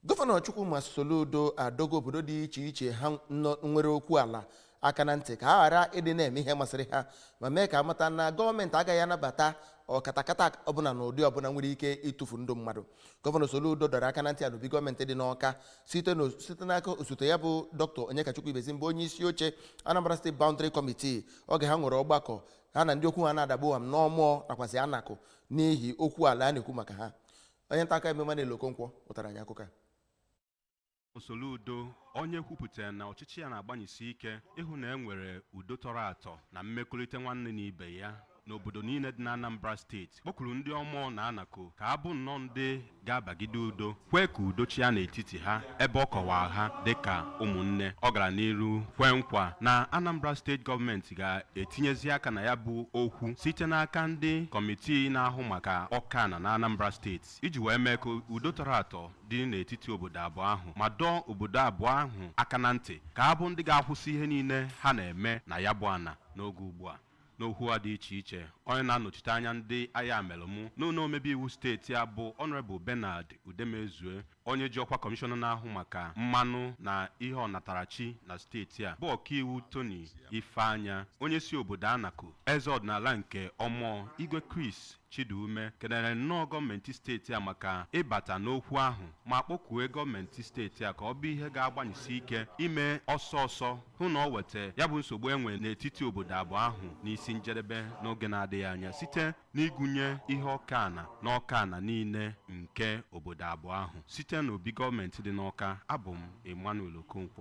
gọvanọ chukwuma soludo adọgo obodo dị iche iche ha nọ- nwere okwu ala aka na ntị ka ha ghara ịdị na-eme ihe masịrị ha ma mee ka a mata na gọọmenti agaghị anabata ọkatakata ọbụla na ụdị ọbụla nwere ike ịtụfu ndụ mmadụ gọvanọ soludo dọrọ aka na ntị a n'obi gọọmenti dị n'ọka site na- site n'aka osote ya bụ dr onyekachukwu ibezim bụ onye isi oche anambra steeti boundary committee oge ha nwere ọgbakọ ha na ndị okwu ha na-ada gbam n'ọmọọ nakwazị anaku n'ihi okwu ala a na-ekwu maka ha onye nta akụkọ Emmanuel Okonkwo butara anyị akụkọ a Soludo onye kwupụtara na ọchịchị ya na-agbanyesi ike ịhụ na e nwere udo tọrọ atọ na mmekọrịta nwanne na ibe ya n'obodo niile dị n'Anambra steeti kpọkuru ndị Ọmọọ na Anaku ka ha bụ nnọọ ndị ga-abagide udo kwee ka udo chịa n'etiti ha ebe ọ kọwara ha dịka ụmụnne ọ gara n'iru kwee nkwa na Anambra steeti gọọmenti ga-etinyezi aka na ya bụ okwu site n'aka ndị kọmitii na-ahụ maka oke ana na Anambra steeti iji wee mee ka udo tọrọ atọ dị n'etiti obodo abụọ ahụ ma dọọ obodo abụọ ahụ aka na ntị ka ha bụ ndị ga-akwụsị ihe niile ha na-eme na ya bụ ana n'oge ugbu a N'okwu ha dị iche iche, onye na-anọchite anya ndị Ayamelum n'ụlọ omebe iwu steeti a bụ Honourable Bernard Udemezue, onye ji ọkwa Kọmishọna na-ahụ maka mmanụ na ihe ọnatarachi na steeti a, bụ ọkaiwu Tony Ifeanya, onye si obodo Anaku, eze ọdịnala nke Ọmọọ, Igwe Chris Chidume kelere nnọọ gọọmenti steeti a maka ịbata n'okwu ahụ ma kpọkue gọọmenti steeti a ka ọ bụ ihe ga-agbanyesi ike ime ọsọ ọsọ hụ na o weta ya bụ nsogbu e nwe n'etiti obodo abụọ ahụ n'isi njedebe n'oge na-adịghị anya site n'igwunye ihe oke ana na oke ana niile nke obodo abụọ ahụ site n'obi gọọmenti dị n'Ọka abụ m Emmanuel Okonkwo